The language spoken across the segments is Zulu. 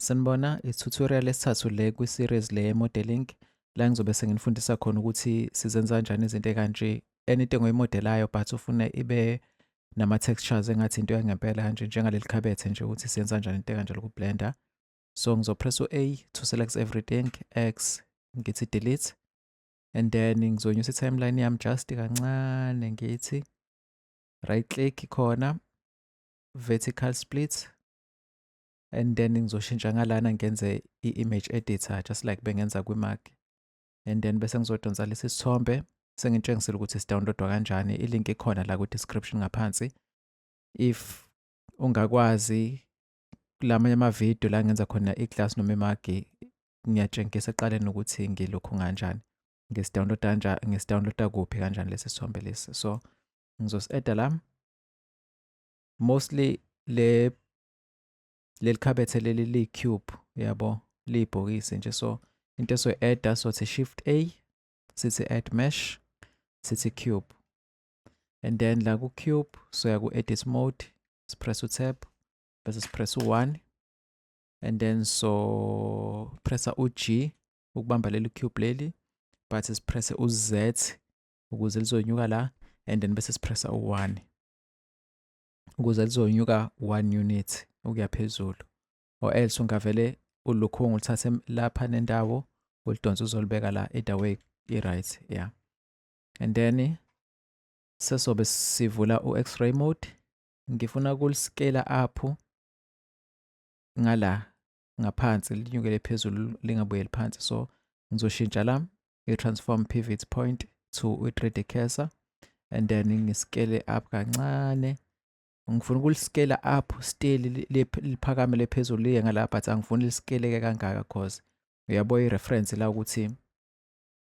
Sanibona, i-tutorial esithathu le kwi-series le ye-modeling la ngizobe senginifundisa khona ukuthi sizenza kanjani izinto ekanje anything oyimodelayo but ufuna ibe nama-textures engathi into yangempela kanje njengaleli khabethe nje ukuthi siyenza kanjani into ekanje loku-blender so ngizopress u-a to select everything x ngithi delete and then ngizonyusa i-timeline yami just kancane ngithi right click khona vertical split and then ngizoshintsha ngalana ngenze i-image editor just like bengenza kwi-mac and then bese ngizodonsa lesi sithombe sengitshengisile ukuthi sidownloadwa kanjani ilink ikhona la kwi-description ngaphansi if ungakwazi kulamanye amavidiyo la ngenza khona i-class noma imagi ngiyatshengisa eqaleni ukuthi ngilokhu nganjani ngisidownloada kanjani ngisidownloada kuphi kanjani lesi sithombe lesi so ngizosieda la mostly le leli khabethe leli li cube yabo liyibhokisi nje so into esoy add sothi shift a sithi add mesh sithi cube and then la ku cube soya ku edit mode sipress u tab bese sipress u 1 and then so pressa u g ukubamba leli cube leli but sipresse u z ukuze lizonyuka la and then bese sipressa u 1 ukuze lizonyuka one unit ukuya phezulu or else ungavele ulukhungu ulithathe lapha nendawo ulidonsa uzolibeka la either way i-right yeah and then sesobe sivula u-x-ray mode ngifuna ukuliskela up ngala ngaphansi linyukele phezulu lingabuyeli phansi so ngizoshintsha la i-transform pivot point to i-3d cursor and then ngiskele up kancane ngifuna ukuliskela up still liphakame lephezulu liye ngala but angifuni lisikeleke kangaka cause uyabo i-reference la ukuthi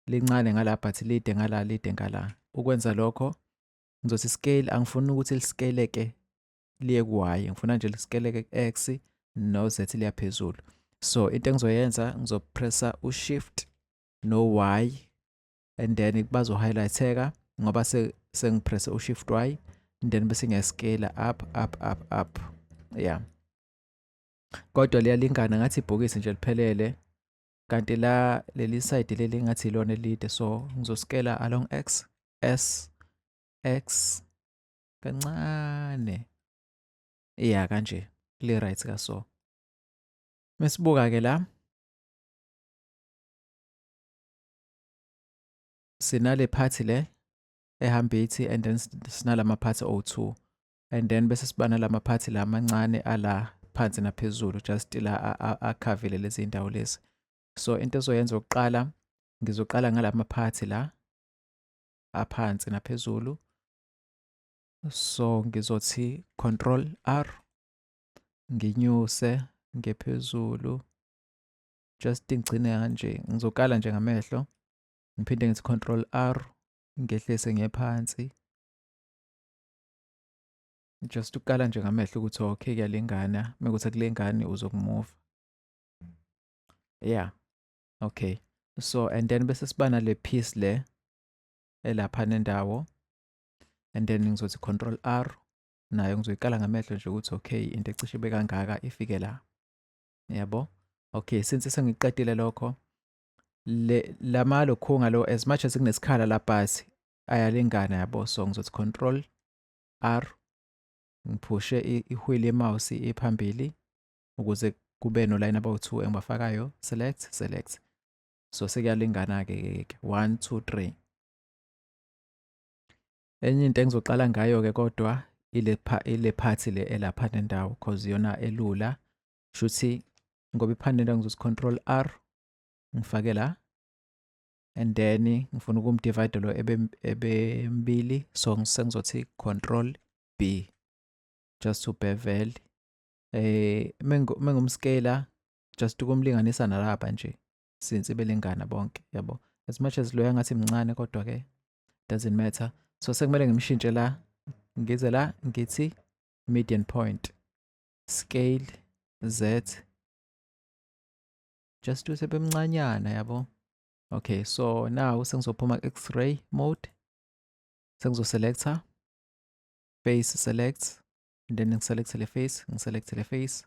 lincane ngala but lide ngala lide ngala ukwenza lokho ngizothi scale angifuni ukuthi lisikeleke liye ku y ngifuna nje lisikeleke ku-x no-z liya phezulu so into engizoyenza ngizopressa u-shift no-y and then bazo-highlightheka ngoba sengipresse u-shift y and then bese ngiyascale up up up up yeah kodwa liyalingana ngathi ibhokisi nje liphelele kanti la leli side leli ngathi ilona elide so ngizoskela along x s x kancane ya kanje le right ka so mesibuka ke la sinale party le ehamba ithi and then sinalama party o2 and then bese sibana lama party la mancane ala phansi naphezulu just la akhavile lezi ndawo lezi so into ezoyenza ukuqala ngizoqala ngalama party la aphansi naphezulu so ngizothi control r nginyuse ngephezulu just ngigcine kanje ngizokala nje ngamehlo ngiphinde ngithi control r ngehlise ngephansi just ukukala nje ngamehlo ukuthi okay kuyalingana mekuthi akulengani uzokumuva yeah okay so and then bese siba nale piece le elapha nendawo and then ngizothi control r nayo ngizoyiqala ngamehlo nje ukuthi okay into ecishe ibe kangaka ifike la yabo okay since sengiqedile lokho le lama lokhunga lo as much as kunesikhala la bhasi ayalingana yabo so ngizothi control r ngiphushe ihwili yemouse iphambili ukuze kube no line abawu2 engibafakayo select select so sekuyalingana-ke ke one two three enye into engizoqala ngayo-ke kodwa ile ile phathi le elapha nendawo cause yona elula shuthi ngoba iphanela ngizothi control r ngifake la and then ngifuna ukumdivide lo ebembili so sengizothi control b just to bevel eh mengumscala just ukumlinganisa nalaba nje since belingana bonke yabo as much as loya ngathi mncane kodwa ke doesn't matter so sekumele ngimshintshe la ngize la ngithi median point scale z just use bemncanyana yabo okay so now sengizophuma x-ray mode sengizoselector face select and then ngiselect le face ngiselect le face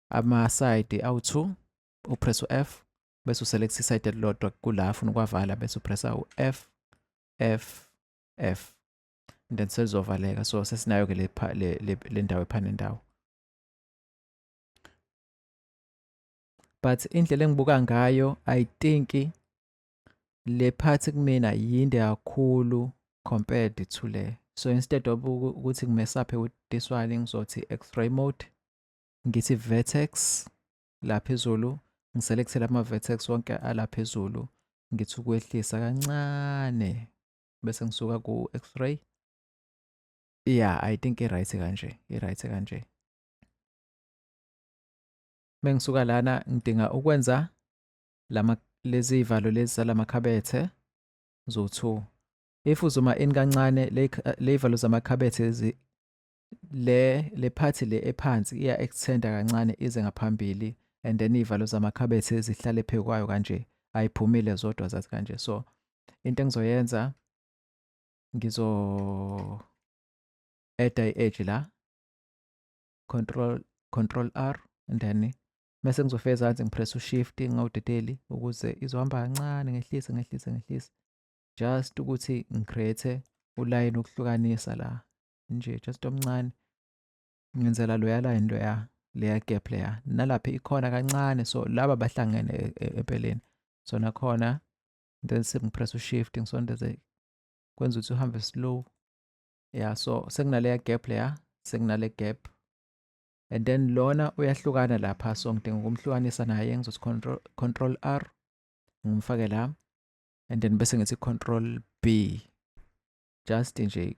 amasayidi awu-2 upress u-f bese uselect isayidi elilodwa kula afuna ukwavala bese upressa u-f f f and then selizovaleka so sesinayo-ke le ndawo ephane ndawo but indlela engibuka ngayo i think le phathi kumina yinde kakhulu compared to le so instead of ukuthi ngimesaphe with this one ngizothi x-ray mode ngithi vertex la phezulu ngiselekthele ama-vertex wonke ala phezulu ngithi ukwehlisa kancane bese ngisuka ku-x-ray yeah i think i-right kanje i-right kanje mengisuka lana ngidinga ukwenza lama lezi ivalo lezi zalamakhabethe zo-2 if uzuma in kancane ley'valo zamakhabethe le le phathi le ephansi iya extenda kancane ize ngaphambili and then iy'valo zamakhabethe zihlale phezu kwayo kanje ayiphumile zodwa zathi kanje so into engizoyenza ngizo eda i-edge la control control r and then mese ngizofika ezansi ngipress ushift ngawudedeli ukuze izohamba kancane ngehlise ngehlise ngehlise just ukuthi ngicreate ulayini ukuhlukanisa la nje just omncane ngenzela loyala into ya leya gap leya nalapha ikhona kancane so laba bahlangene e, e, empeleni so nakhona then sengipress ushift ngisondeze kwenza ukuthi uhambe slow ya so sekunaleya gap leya sekunale gap and then lona uyahlukana lapha so ngidinga ukumhlukanisa naye ngizothi control, control r ngimfake la and then bese ngithi control b just nje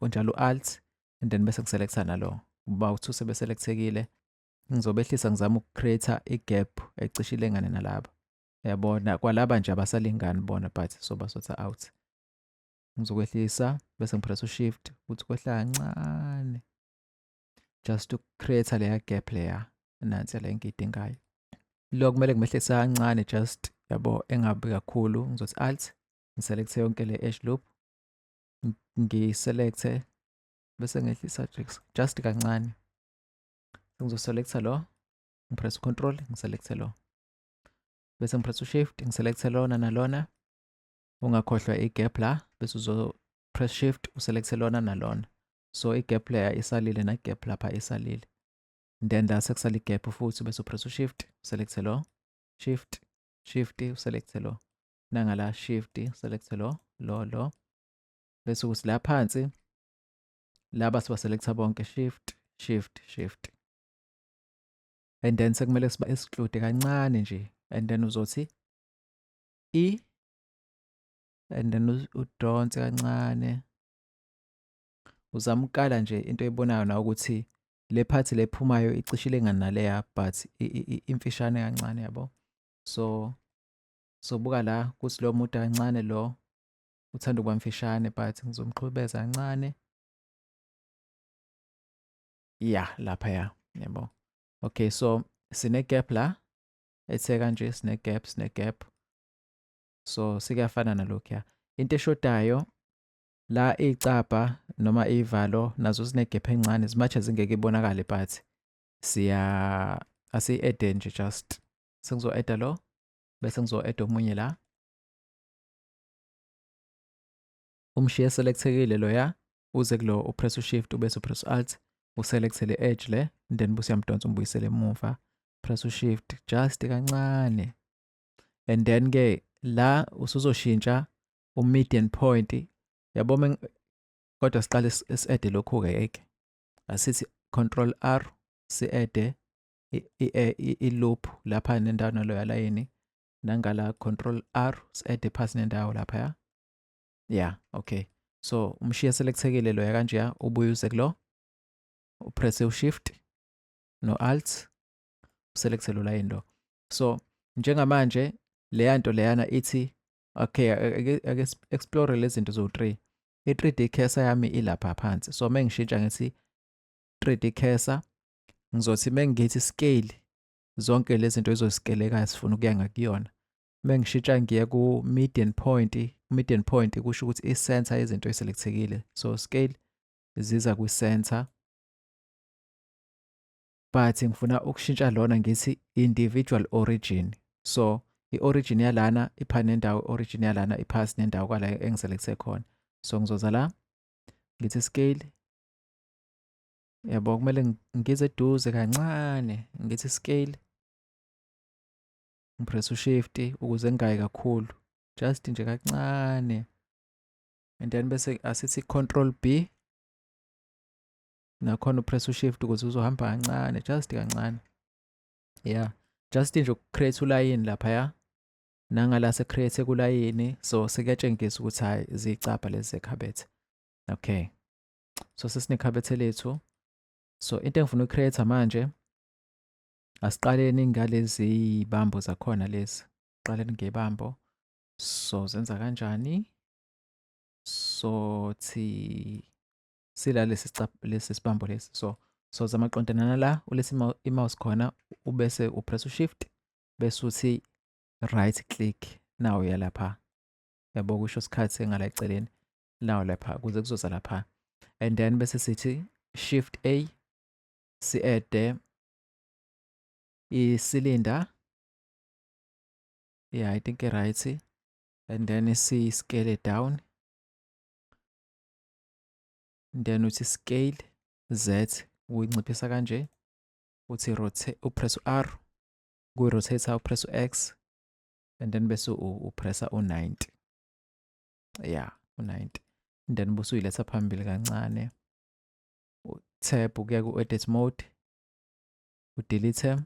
onjalo u-alt and then bese ngiselecta nalo uba uthi usebeselectekile ngizobehlisa ngizama ukucreate igap ecishe ilengane nalaba yabona kwalaba nje abasalingani bona but soba sotha out ngizokwehlisa bese ngipress ushift ukuthi kwehla kancane just ukucreate leya gap leya nansi le ngiyidingayo lo kumele ngimehlise kancane just yabo engabi kakhulu ngizothi alt ngiselecte yonke le edge loop ngiselecthe bese ngehlisa just kancane ngizoselectha lo ngipress control ngiselecthe lo bese ngipress shift ngiselecthe lona nalona ungakhohlwa i-gap la bese uzo press shift uselecthe lona nalona so i-gap leya isalile na-gap lapha isalile then la sekusala i-gap futhi bese upress shift uselecthe lo shift shift uselecthe lo nangala shift select lo lo lo bese ukuthi la phansi laba siba selector bonke shift shift shift and then sekumele siba esixude kancane nje and then uzothi e and then udonse kancane uzama ukukala nje into ebonayo na ukuthi le phathi lephumayo icishile nganaleya but imfishane kancane yabo so Sobuka la ukuthi lo mude kancane lo uthanda ukuba mfishane but ngizomqhubeza kancane. Ya, lapha ya, yebo. Okay, so sine gap la ethe kanje sine gap sine gap. So sikuyafana nalokhuya. Into eshodayo la iy'cabha noma iy'valo nazo zinegephu encane as much as ingeke ibonakale but siya asiyi-ede nje just sengizo-eda lo bese ngizo-add omunye la umshiye selectekile loya uze kulo upress ushift ubese upress alt uselect le edge le then bese uyamdonsa umbuyisele emuva press ushift just kancane and then ke la usuzoshintsha umedian point yabo kodwa siqale si-add lokhu-ke yeke asithi control r si-add eh, i-loop lapha nendawo nalo yalayini nangala control r si-ade phasi nendawo lapha ya ya okay so umshiya selekthekile loya kanjeya ubuye uze kulo upresse ushift no-alt uselekte lo layini lo so njengamanje leya nto leyana ithi okay ake explore lezi zinto zo-three i-3 d cursor yami ilapha phansi so uma ngishintsha ngithi 3 d cursor ngizothi mengithi scale zonke lezi zinto ezosikelekayo sifuna ukuya ngakuyona mengishitsha ngiye ku median point median point kusho ukuthi i center yezinto eselekthekile so scale ziza kwi center but ngifuna ukushintsha lona ngithi individual origin so i-origin yalana ipha nendawo i-origin yalana iphasi nendawo kwala engiselekise khona so ngizoza la ngithi scale Yabo kumele ngize eduze kancane ngithi scale. Ngipress ushift ukuze ngingayi kakhulu. Just nje kancane. And then bese asithi control B. Nakhona upress ushift ukuze uzohamba kancane, just kancane. Yeah. Just nje ukucreate ulayini lapha ya. Nangala secreate kulayini so sekuyatshengisa ukuthi hayi zicapha lezi zekhabethe. Okay. so sesinekhabethe lethu so into engifuna ucreate manje asiqaleni ngalezi bambo zakhona lezi qaleni ngebambo so zenza kanjani so thi sila lesi lesi sibambo lesi so so zama qondanana la ulesi mouse khona ubese upress ushift bese uthi right click nawo yalapha yabo kusho isikhathi engala eceleni nawo lapha kuze kuzoza lapha and then bese sithi shift a si-ede isilinda yeah i think right and then si-scale down then uthi scale z uyinciphisa kanje uthi rotate upress u-r kuyi-rotate upress u-x and then bese upressa u-90 ya u-90 and then busuyiletha phambili kancane uthep ukuya ku-edit mode udelete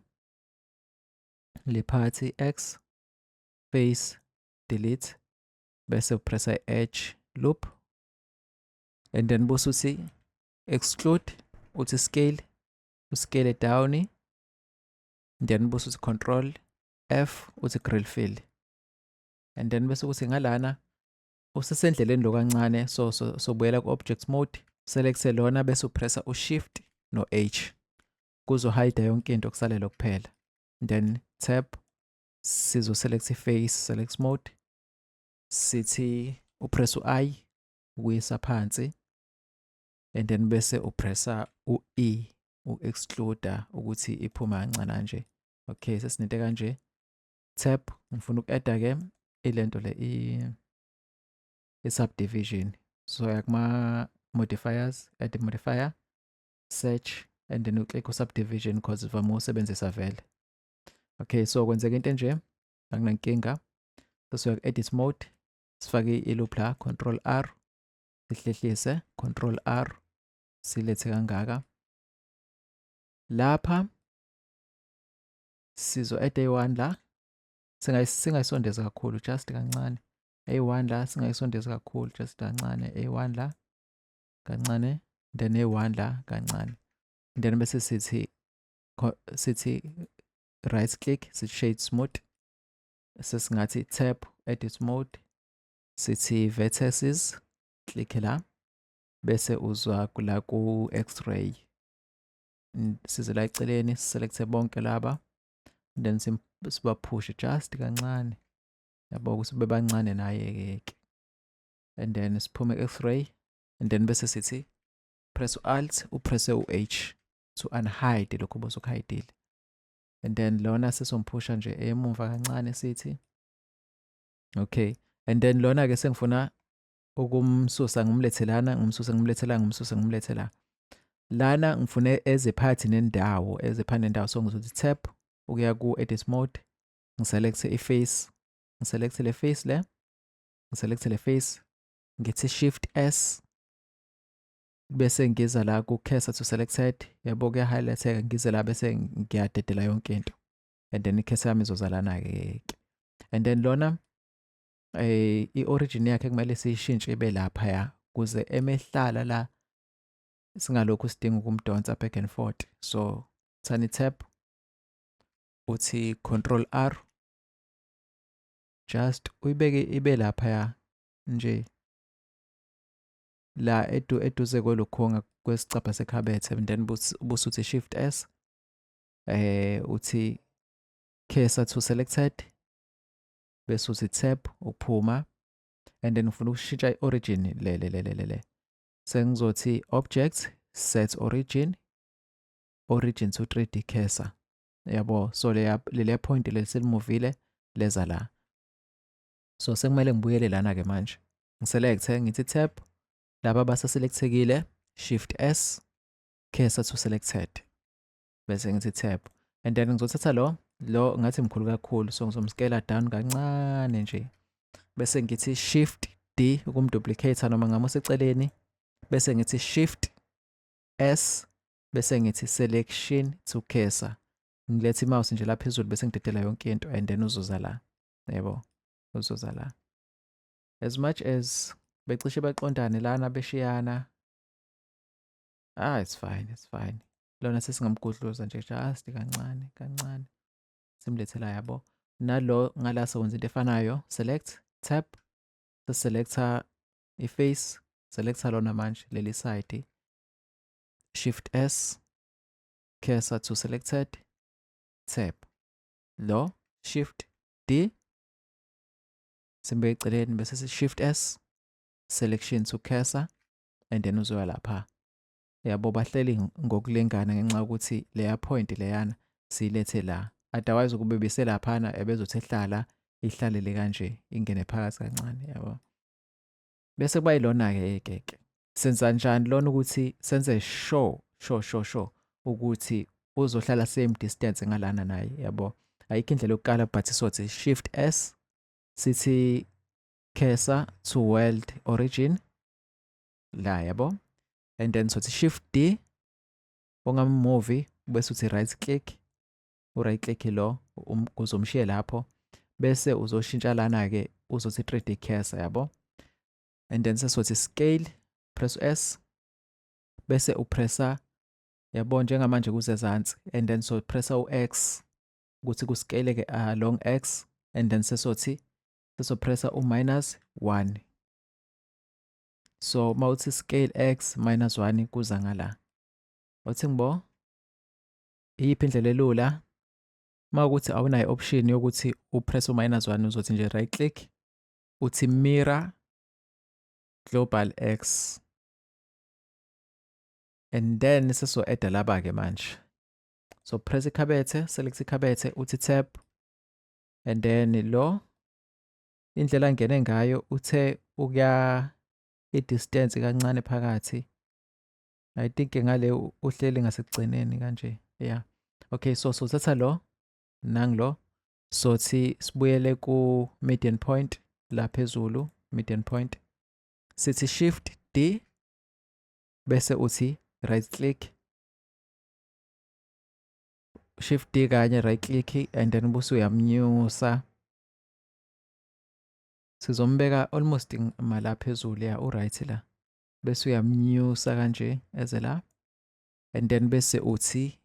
le phathi x face delete bese upressa i-edge loop and then busuthi exclude uthi scale uscale down then busuthi control f uthi grill fill and then bese kuthi ngalana usesendleleni lo kancane so so sobuyela ku object mode select lona bese upressa u shift no h kuzo hide yonke into kusalela kuphela then tap sizo select face select mode sithi upress u i ukuyisa phansi and then bese upressa u e u excluder ukuthi iphuma kancane nje okay sesinento kanje tab ngifuna uku-adda ke ilento le i-subdivision so ya kuma-modifiers add modifier search and then uclick u-subdivision because ivame usebenzisa vele okay so kwenzeka into enje anginankinga sesiya ku-edit mode sifake i-loop la control r sihlehlise control r silethe kangaka lapha sizo at eyi-one la singayisondeza kakhulu just kancane eyi-one la singayisondeza kakhulu just kancane eyi-one la kancane then eyi-one la kancane then bese sithi sithi right click sithi shade smooth sesingathi tap edit mode sithi vertices click la bese uzwa kula ku x-ray and size la eceleni siselecte bonke laba then sibaphushe just kancane yabo ukuthi bebancane naye-ke ke and then siphume x-ray and then bese sithi press u-alt upresse u-h to unhide lokhu bosukuhayidile and then lona sesomphusha nje emumva kancane sithi okay and then lona-ke sengifuna ukumsusa ngimlethelana ngimsusa ngimlethelana ngimsusa ngimlethelana lana ngifune ezephathi nendawo ezephathi nendawo so ngizothi tap ukuya ku-edit mode ngiselekte i-face ngiselekte le face le ngiselekte le face ngithi shift s bese ngiza la ku-cursor to selected yabo kuyahighlightheka ngize la bese ngiyadedela yonke into and then i-cursor yami izozalana-ke and then lona eh iorigin yakhe kumele siyishintshe ibe lapha ya kuze emehlala la singalokhu sidinga ukumdonsa back and forth so thani tap uthi control r just uyibeke ibe lapha ya nje la edu eduze kwelokhonga kwesicabha sekhabethe and then busuthi shift s eh uthi cursor to selected bese uthi tap ukuphuma and then ufuna ukushintsha i-origin le le le le le sengizothi object set origin origin to 3D cursor yabo so le le point le selimuvile leza la so sekumele ngibuyele lana ke manje ngiselecte ngithi tab laba basaselectekile shift s cursor to selected bese ngithi tap and then ngizothatha lo lo ngathi mkhulu kakhulu so ngizomscale down kancane nje bese ngithi shift d ukumduplicate noma ngamuseceleni bese ngithi shift s bese ngithi selection to cursor ngilethe imouse nje la phezulu bese ngidedela yonke into and then uzoza la yebo uzoza la as much as becishe baqondane lana beshiyana ah it's fine it's fine lona sesingamgudluza nje just kancane kancane simlethela yabo nalo ngala sokwenza into efanayo select tap seselecta iface selecta lona manje leli side shift s cursor to selected tap lo shift d simbe eceleni bese si shift s selection to cursor and then uzoya lapha yabo bahleli ngokulingana ngenxa yokuthi leya point leyana siyilethe la otherwise ukube biselaphana ebezothi ehlala ihlalele kanje ingene phakathi kancane yabo bese kuba yilona-ke ekeke senza njani lona ukuthi senze sure sure sure sure ukuthi uzohlala same distance ngalana naye yabo ayikho indlela yokuqala but sothi shift s sithi kesa to world origin la yabo and then sothi shift d ongama movie bese uthi right click u right click lo um, uzomshiye lapho bese uzoshintsha lana ke uzothi 3D cursor yabo and then sesothi scale press s bese upressa yabo njengamanje kuzezansi and then so pressa u-x ukuthi kuscale ke along ah, x and then sesothi sesopressa u-minus 1 so uma uthi scale x minus 1 kuza ngala othi ngibo iyiphi indlela elula uma ukuthi awunayo option yokuthi upress u-minus 1 uzothi nje right click uthi mirror global x and then seso-edda laba-ke manje so press ikhabethe select ikhabethe uthi tap and then lo indlela angene ngayo uthe ukuya i-distance kancane phakathi i think ngale uhleli ngasekugcineni kanje yeah okay so sothatha lo nangilo sothi sibuyele ku median point la phezulu median point sithi shift d bese uthi right click shift D kanye right click and then bese uyamnyusa sizombeka almost mala phezulu ya uright la bese uyamnyusa kanje eze la and then bese uthi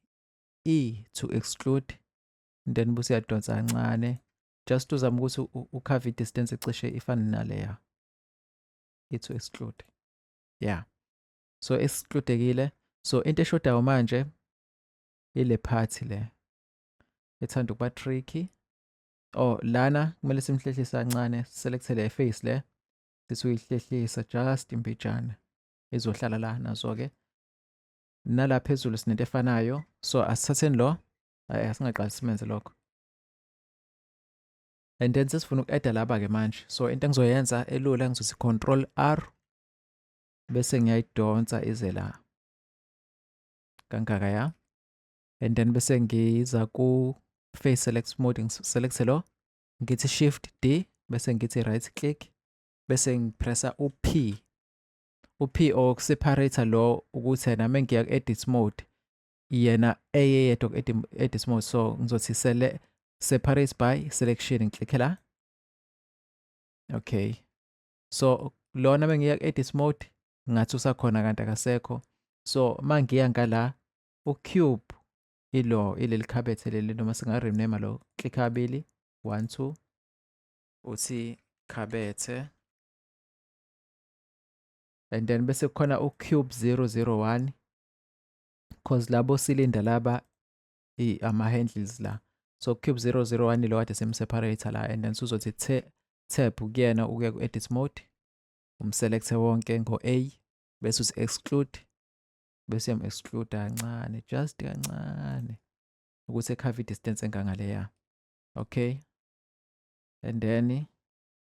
e to exclude and then bese uyadonsa kancane just uzama ukuthi ukhave distance ecishe ifane naleya e to exclude yeah so excludekile so into eshodayo manje ile party le ethanda ukuba tricky Oh lana kumele simhlehlise kancane selekthele iface le sithi uyihlehlisa just imbijana izohlala la nazo ke nala phezulu sinento efanayo so asithatheni lo hayi asingaqali simenze lokho and then sesifuna uku-adda laba ke manje so into engizoyenza elula ngizothi control r bese ngiyayidonsa ize la kangaka ya and then bese ngiza ku face select mode select lo ngithi shift D bese ngithi right click bese ngipressa u P u P o separator lo ukuthi nami ngiya ku edit mode yena eyeyedwa ku edit mode so ngizothi sele separate by selection ngiklikhe la okay so lona bengiya ku edit mode ngathi usakhona kanti akasekho so mangiya ngala ucube ilo ileli khabethe leli noma singarename lo click kabili one two uthi khabethe and then bese kukhona ucube 001 cause labo silinda laba ama-handles la so cube 001 lo kade simseparator la and then suzothi tab kuyena ukuya ku-edit mode umselekthe wonke ngo-a bese uthi exclude bese yam exclude kancane just kancane ukuthi ekhave distance engangaleya okay and then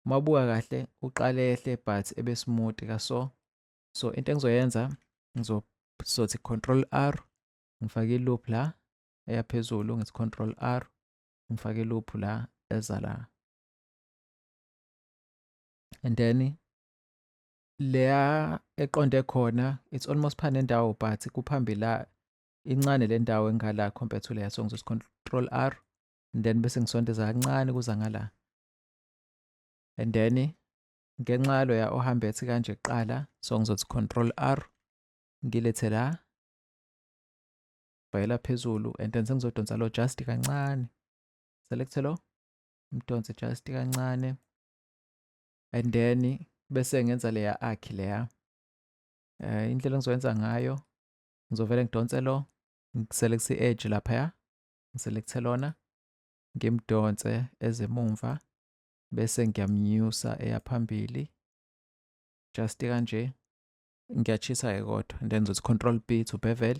mabuka kahle uqale ehle but ebe smooth ka so so into engizoyenza ngizothi control r ngifake loop la eyaphezulu ngithi control r ngifake loop la eza la and then leya eqonde khona it's almost pha nendawo but kuphambili la incane le ndawo engala compared to leya so ngizos control r and then bese ngisondeza kancane kuza ngala and then ngenxa yalo ya ohamba ethi kanje kuqala so ngizothi control r ngilethe la bhayela phezulu and then sengizodonsa lo just kancane select lo mdonse just kancane and then bese ngenza leya akhi leya um indlela engizoyenza ngayo ngizovele ngidonse lo ngiselekthi i-edge laphaya ngiselekthe lona ngimdonse ezemumva bese ngiyamnyusa eya phambili just kanje ngiyachisa-ke kodwa and then ngizothi control b to bevel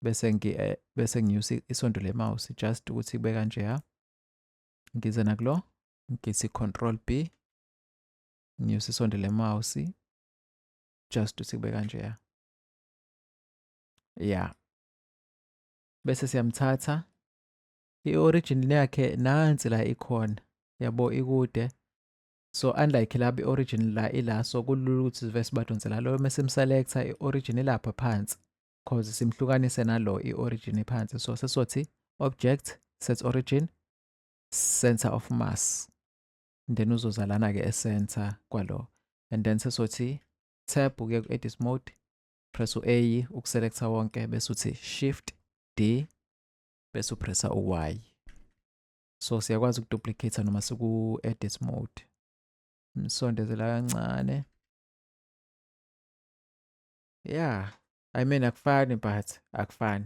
bese ngi eh, bese nginyusa isondo le mouse just ukuthi kube kanje ha ngize nakulo ngithi control B nginyuse isondo lemouse just ukuthi kube kanjeya ya bese siyamthatha i-origin yakhe nansi la ikhona yabo ikude so unlike laba i-origin la ila so kulula ukuthi sive sibadonse la lo mese simselecta i-origin ilapha phansi cause simhlukanise nalo i-origin phansi so sesothi object set origin center of mass and then uzozalana ke e-center kwalo and then sesothi tab uye ku-edit mode press u-a ukuselecta wonke bese uthi shift d bese upressa u-y so siyakwazi ukuduplicate noma siku-edit mode msondezela kancane yeah i mean akufani but akufani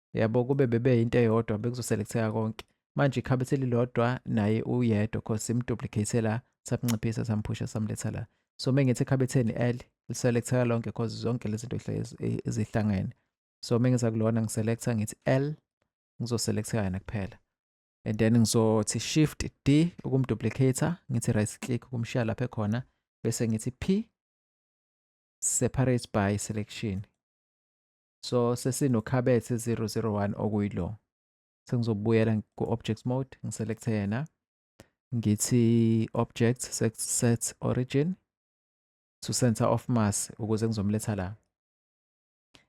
yabo kube bebe into eyodwa bekuzoselektheka konke manje ikhabe selilodwa naye uyedwa cause imduplicate la samnciphisa samphusha samletha la so mengithi ekhabetheni l liselektheka lonke cause zonke lezi zinto ezihlangene so mengiza kulona ngiselecta ngithi l ngizoselektheka yena kuphela and then ngizothi shift d ukumduplicator ngithi right click ukumshiya lapha ekhona bese ngithi p separate by selection So sesinokhabethe 001 okuyilo. Sengizobuyela ku-objects mode, ngiselekte yena. Ngithi object set, set origin to center of mass ukuze ngizomletha la.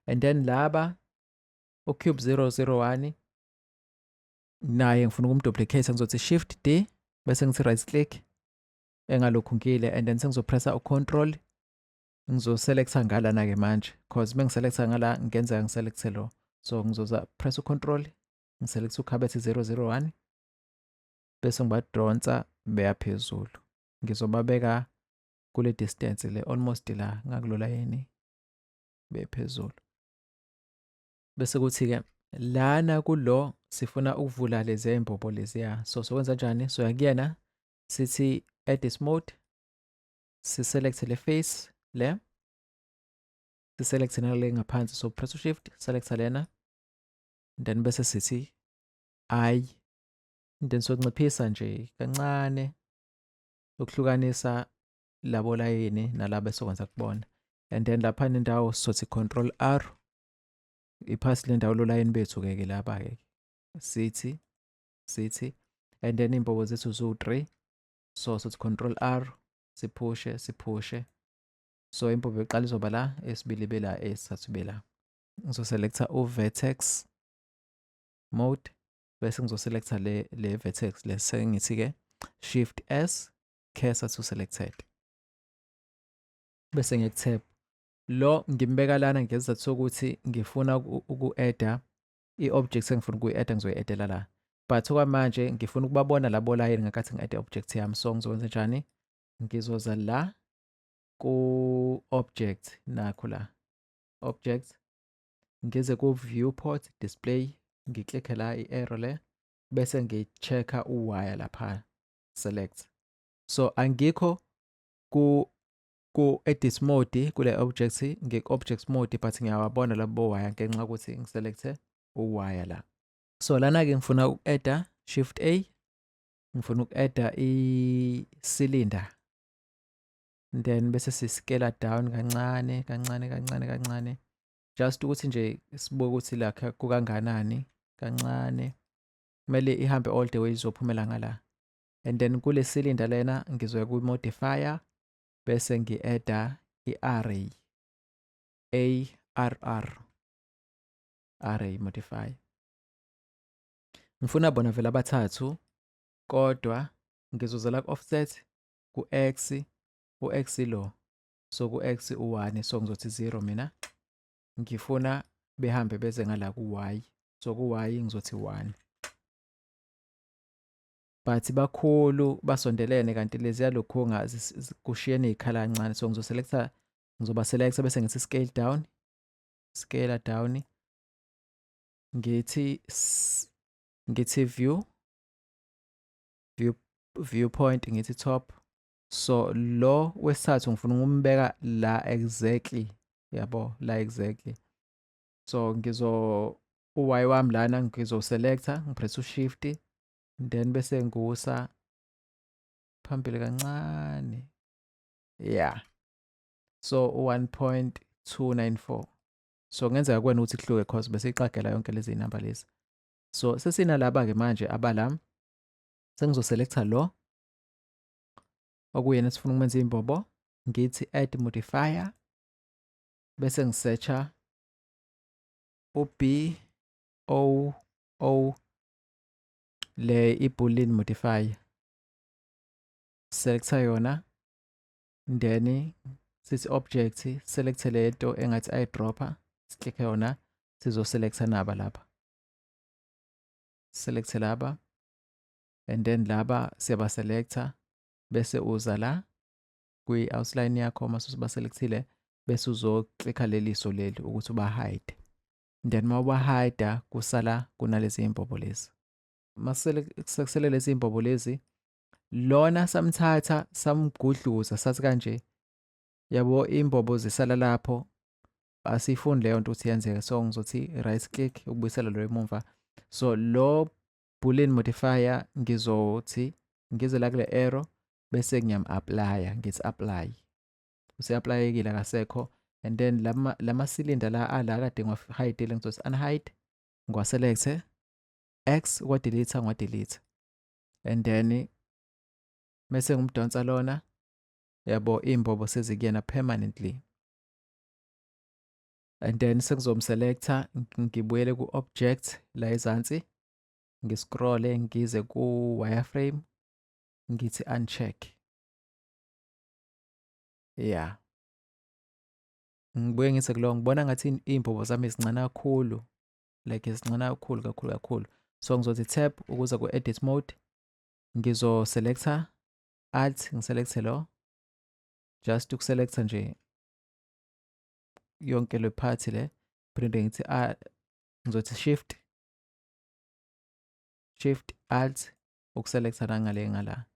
And then laba ucube 001 naye ngifuna ukumduplicate ngizothi shift D bese ngithi right click engalokhu ngile and then sengizopressa ucontrol ngizoselektha ngalana-ke manje cause uma ngiselektha ngala ngenzeka ngiselekthe lo so ngizoza press ucontrol ngiselektha ukhabethe 001 bese ngibadonsa beya phezulu ngizobabeka kule distance le almost la ngakulola yini bephezulu bese kuthi-ke lana kulo sifuna ukuvula leziya imbobo leziya so sokwenza njani soya kuyena sithi add this mode si-select le face le si-select nale ngaphansi so press shift select lena then bese sithi i then sonciphisa nje kancane ukuhlukanisa labo layini nalabo esokwenza kubona and then lapha nendawo sothi control r iphasi lendawo lolayini bethu ke ke laba ke sithi sithi and then imbobo zethu zu 3 so sothi control r siphushe siphushe so impova yokuqala izoba la esibili ibe la esithathu ibe la ngizoselecta u-vertex mode bese ngizoselecta le, le vertex le sengithi-ke shift s cursor to selected bese ngiyakutap lo ngimbeka lana ngezizathu sokuthi ngifuna uku-adda i-object engifuna ukuyi-add ngizoyi-addela la but okwamanje ngifuna ukubabona labo layini ngakathi ngi-add i-object yami so ngizokwenza njani ngizoza la ku-object nakho la object ngize ku-viewport display ngiklikhe la i-arrow le bese ngi-check-a uwaya lapha select so angikho ku ku-edit mode kule object ngiku-object mode but ngiyawabona labo waya ngenxa yokuthi ngiselecthe uwaya la so lana-ke ngifuna uku-edda shift a ngifuna uku-edda i-cylinder then bese sisikela down kancane kancane kancane kancane just ukuthi nje sibuke ukuthi la kukanganani kancane kumele ihambe all the way izophumela ngala and then kule cylinder lena ngizoya kwi-modifier bese ngi-adda i-array arr array modify ngifuna bona vele abathathu kodwa ngizozela ku-offset ku-x u-x lo so ku-x u-1 so ngizothi 0 mina ngifuna behambe beze ngala ku-y so ku-y ngizothi 1 but bakhulu basondelene kanti leziya lokhunga kushiyene iy'khala kancane so ngizoselecta ngizoba selecta bese ngithi scale down scale down ngithi ngithi view view viewpoint ngithi top so lo wesithathu ngifuna ukumbeka la exactly yabo la exactly so ngizo uy wami lana ngizoselecta ngipressa ushift then bese ngiwusa phambili kancane ya so u-one point two nine four so kungenzeka kuwena ukuthi kuhluke cause bese iqagela yonke lezi zinamba lezi so sesinalaba-ke manje abala sengizoselecta lo okuyena sifuna ukumenza imbobo ngithi add modifier bese ngisearcha u B O O le iboolean modifier selecta yona then sithi object select le nto engathi i dropper siklikhe yona sizo selecta naba lapha select laba and then laba siyaba selecta bese uza la kwi-outline yakho uma usubaselekthile bese uzoclikha leliso leli ukuthi ubahide then uma ubahida kusala kunalezi imbobo lezi masekusele lezi imbobo lezi lona samthatha samgudluza sathi kanje yabo imbobo zisala lapho asiyifuni leyo nto ukuthi yenzeke so ngizothi right click ukubuyisela lo emumva so lo boolean modifier ngizothi ngize la kule arrow bese ngiyam-aplaya ngithi apply useaplayekile akasekho and then lama cylinder la ala kade ngiwa-hide le ngizothi unhide ngiwaselekthe x kwadelete ngiwadelete and then mese ngimdonsa lona yabo iy'mbobo sezikuyena permanently and then sengizomselecta ngibuyele ku-object la ezansi ngiscrolle ngize ku-wireframe ngithi uncheck ya yeah. ngibuye ngithi kulowo ngibona ngathi iy'mbobo zami zincane kakhulu like zincane kakhulu kakhulu kakhulu so ngizothi tap ukuza ku-edit mode ngizoselecta alt ngiselecte lo just ukuselecta nje yonke le phathi le phinde ngithi a ah, ngizothi shift shift alt ukuselecta la ngale ngala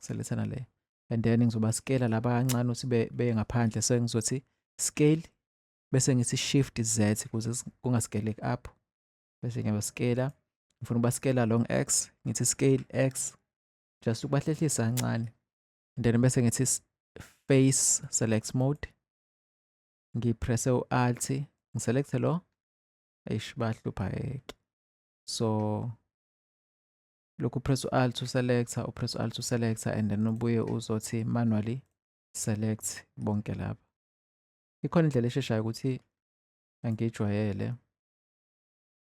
selethana le and then ngizoba scale laba kancane ukuthi be ngaphandle so ngizothi scale bese ngithi shift z ukuze kungaskeleki up bese ngiyaba scale ngifuna uba scale along x ngithi scale x just ukubahlehlisa kancane and then bese ngithi face select mode ngipresse u-alt ngiselecthe lo eish bahlupha yeke so lokhu press u-alt uselecta upress u-alt uselecta and then ubuye uzothi manually select bonke laba ikhona indlela esheshayo ukuthi angijwayele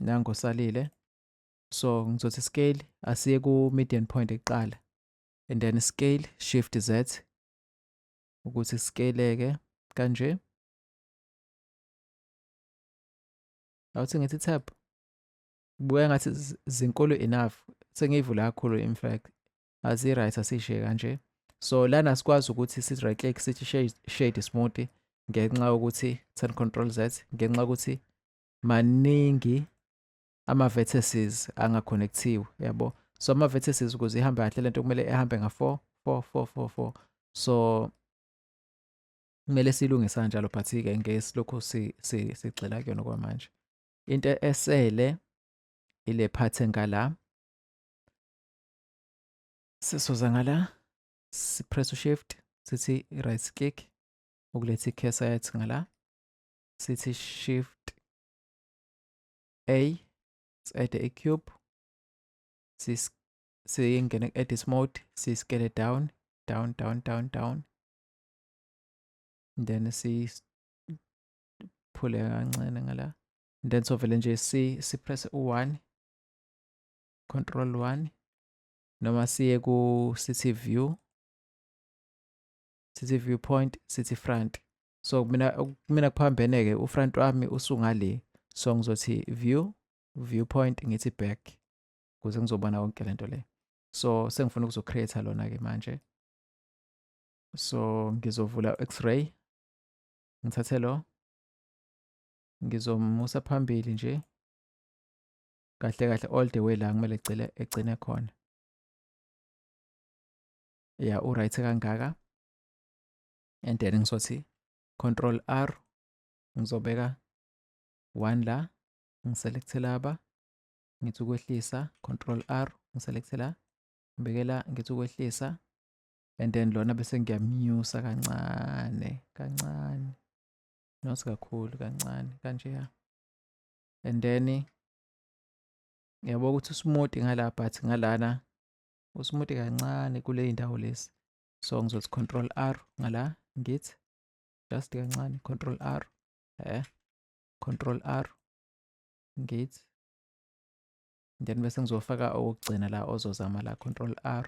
nango salile so ngizothi scale asiye ku median point ekuqala and then scale shift z ukuthi sikeleke kanje awuthi ngithi tab buya ngathi zinkulu enough sengiyivula kakhulu in fact azi right asishe kanje so lana sikwazi ukuthi si right click sithi shade smoothie ngenxa yokuthi turn control z ngenxa yokuthi maningi ama vertices angaconnectiwe yabo so ama vertices ukuze ihambe kahle lento kumele ehambe nga 4 4 4 4 4 so kumele silungisa kanjalo but ke ngesilokhu si sigxila kuyona kwamanje into esele ile part engala Sisuza ngala sipress ushift sithi right click ukuletha icursor yethu ngala sithi shift a si-add icube siyingene ku-edit mode siyiskele down down down down down then siphule kancane ngala then sovele nje si sipress u-1 control 1 noma siye ku city view city view point city front so mina mina kuphambene ke ufront wami usungale so ngizothi view viewpoint ngithi back kuze ngizobona konke lento le so sengifuna ukuzo create lona ke manje so ngizovula x-ray ngithathe lo ngizomusa phambili nje kahle kahle all the way la kumele egcile egcine khona ya u right kangaka and then ngizothi control r ngizobeka 1 la ngiselecte laba ngithi ukwehlisa control r ngiselecte la ngibekela ngithi ukwehlisa and then lona bese ngiyamnyusa kancane kancane not kakhulu kancane kanjeya and then ngiyabona ukuthi usmuti ngala but ngalana usmuti kancane kule indawo lesi so ngizothi control r ngala ngithi just kancane control r eh control r ngithi then bese ngizofaka okugcina la ozozama la control r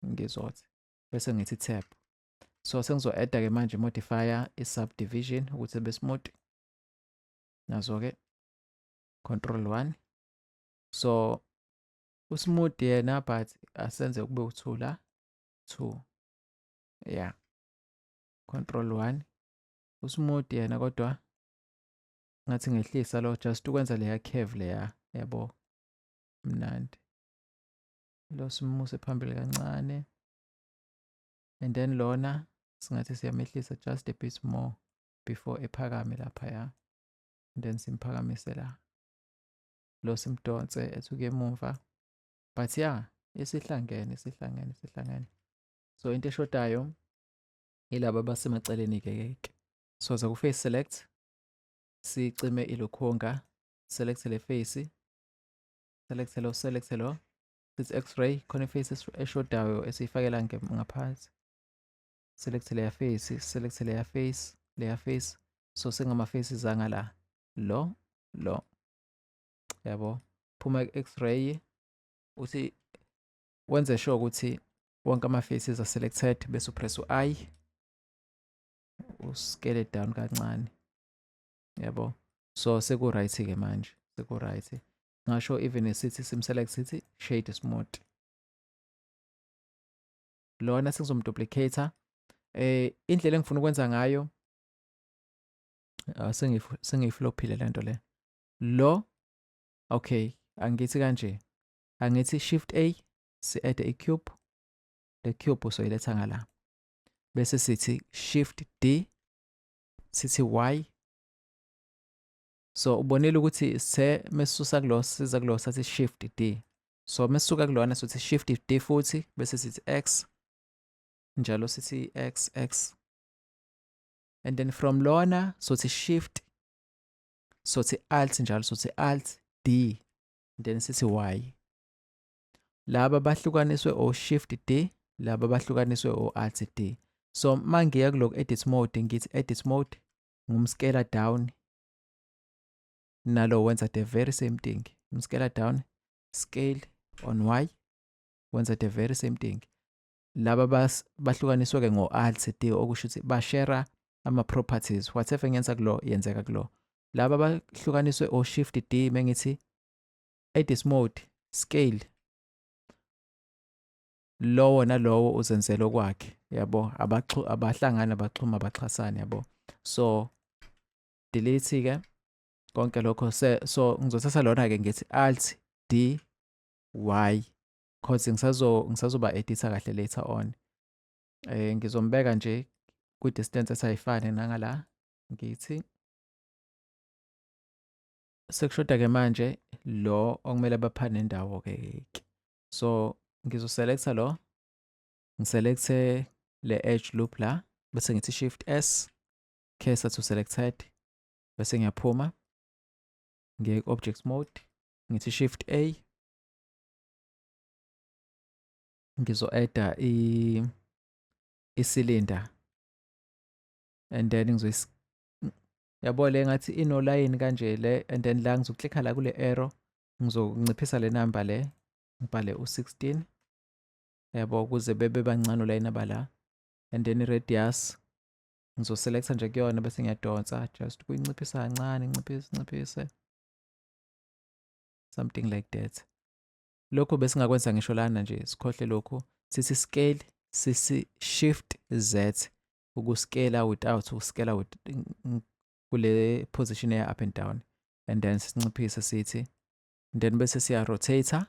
ngizothi bese ngithi tab so sengizo-adda-ke manje modifier i-subdivision ukuthi besimuti nazo-ke control one so usmooth yena but asenze kube u-two la two ya yeah. control one usmooth yena kodwa ngathi ngehlisa lo just ukwenza leya curve leya yabo mnandi lo simuse phambili kancane and then lona singathi siyamehlisa just a bit more before ephakame laphaya and then simphakamise la lo simdonse ethuke emuva but ya yeah, isihlangene isihlangene isihlangene so into eshodayo ilaba basemaceleni ke ke so za ku-face select sicime ilokhonga select le face select lo select lo sithi x-ray khona iface eshodayo esiyifakela ngaphansi select layer face select layer face layer face so sengama faces anga la lo lo yabo phuma x-ray uthi wenze sure ukuthi wonke ama faces are selected bese upress u-i uskele down kancane yabo so seku right ke manje seku right ngasho even esithi sim select sithi shade smooth lona sengizomduplicator eh indlela engifuna ukwenza ngayo ah, sengiyiflophile le nto le lo okay angithi kanje angithi shift a si-add i-cube le cube usoyiletha ngala bese sithi shift d sithi y so ubonile ukuthi se mesusa kulo siza kulo sathi shift d so mesuka kulona sothi shift d futhi bese sithi x njalo sithi x x and then from lona sothi shift sothi alt njalo sothi alt d then sithi y laba bahlukaniswe o shift d laba bahlukaniswe o alt d so mangiya kulok edit mode ngithi edit mode ngumskela down nalo wenza the very same thing umskela down scale on y wenza the very same thing laba bahlukaniswe ke ngo alt d okusho ukuthi bashare ama properties whatever ngenza kulo yenzeka kulo laba bahlukaniswe o shift d mengithi edit mode scale lowo nalowo uzenzela okwakhe yabo abahlangani abaxhuma abaxhasani yabo so delete ke konke lokho so ngizothatha lona ke ngithi alt d y cause ngisazo ngisazoba editha kahle later on eh ngizombeka nje ku distance esayifane nangala ngithi sekushoda ke manje lo okumele baphane indawo ke so ngizoselecta lo ngiselecte le edge loop la bese ngithi shift s cursor to selected bese ngiyaphuma ngiye ku-object mode ngithi shift a ngizo-adda isilinda and then ngizoyis yabo le ngathi inolayini kanje le and then la ngizoklikha la kule arrow ngizonciphisa le namba le ngibhale u-16 yabo ukuze bebe bancane ulayinaba la and then i-radius ngizoselecta nje kuyona bese ngiyadonsa just kuyinciphisa kancane nciphise nciphise something like that lokhu besingakwenza ngisho lana nje sikhohle lokhu sithi scale sisi shift z ukuscale without uscale with kule position eya up and down and then sinciphise sithi and then bese siya rotator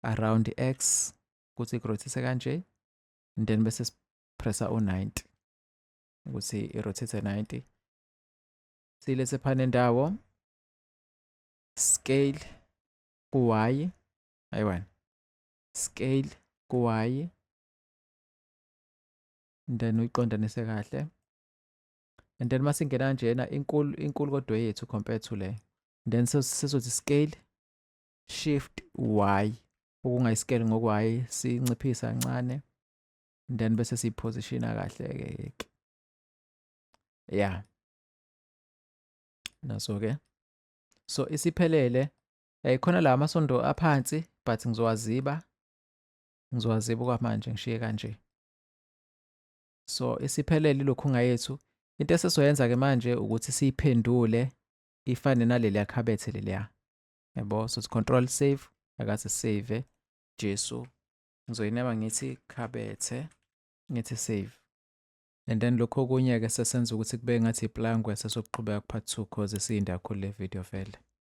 around x ukuthi kurotate kanje and then bese sipressa u90 ukuthi irotate 90 silethe phana indawo scale ku-y ayiwani scale ku-y then uyiqondanise kahle and then masingena kanjena inkulu inkulu kodwa yethu compared to le then sizothi scale shift y okungayisikele ngokwayi sinciphisa kancane then bese siyiphositiona kahle-ke ke ya naso-ke so isiphelele um khona la amasondo aphansi but ngizowaziba ngizowaziba okwamanje ngishiye kanje so isiphelele ilokhunga yethu into esesoyenza ke manje ukuthi siyiphendule ifane naleliya khabethe leliya yabo so control save akaze save jesu ngizoyinema ngithi khabethe ngithi save and then lokho okunye-ke sesenza ukuthi kube ngathi iplangwe sesokuqhubeka kuphathi two cause isiyinde kakhulu le video vele